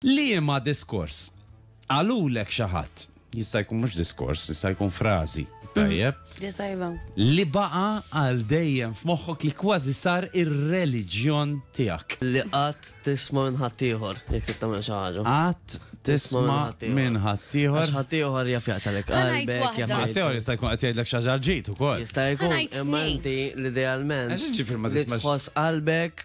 Liema diskors? Qalulek xi ħadd. Jista' jkun mhux diskors, jista' jkun frażi. Tajjeb. Di tajba. Li baqa' għal dejjem f'moħħok li kważi sar ir-reliġjon tiegħek. Li qatt tisma' minn ħaddieħor jekk trid tagħmel xi ħaġa. Qatt tisma' minn ħaddieħor. Għax ħaddieħor jaf jaqtalek Ħa ngħid qalbek, waħda. jaf jgħid- Ħaddieħor jista' jkun qed jgħidlek xi ħaġa ġid ukoll. Jista' jkun, Ħanajt imma tnejn. inti l-idealment Għax ġifier ma li tismax- tħoss qalbek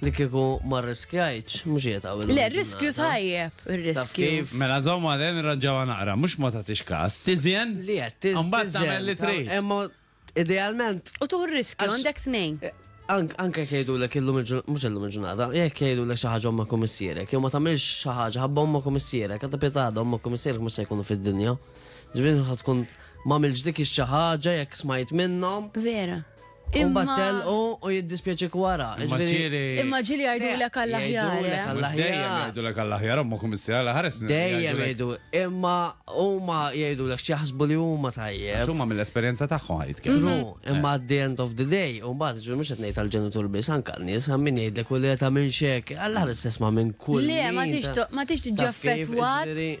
Li kieku ma rriskjajtx, mhux qiegħed hawn illum. Le, r-riskju tajjeb, ir-riskju. Mela żomm għalin irranġawha naqra, mhux ma tagħtix każ. Tiżjen? Li qed tiżjen. U mbagħad tagħmel li trid. Imma idealment. U tieħu r-riskju, għandek tnejn. Anke jekk jgħidulek illum il-ġurnata, mhux illum il-ġurnata, jekk jgħidulek xi ħaġa ommok u missierek, jew ma tagħmilx xi ħaġa ħabba ommok u missierek, għadha pietada ommok u missierek mhux se jkunu fid-dinja. Ġifieri tkun ma' mill-ġdikix xi ħaġa jekk smajt minnhom. Vera. U Imma- battel u u jiddispjaċik wara. Imma ġifieri- ġieli. Imma ġieli jgħidulek għall-aħjar. Jgħidulek eh? għall- Mhux dejjem L-aħjar. jgħidulek għall-aħjar, omma kummissar, l-ħares. Dejjem jgħidu, imma huma jgħidulek x'jaħsbu li huma tajjeb. Xumma mill-esperjenza tagħhom ħajt kif. True, Mm-hmm. imma at the end of the day, u mbagħad ġifieri mhux qed ngħid għall-ġenitur biss, anke għan-nies għam min jgħidlek u li qed tagħmel xek, għall-ħares tisma' minn kull. Le, ma min tix ta- to- ma tix tiġi ta' kif, affettwat. ġifieri-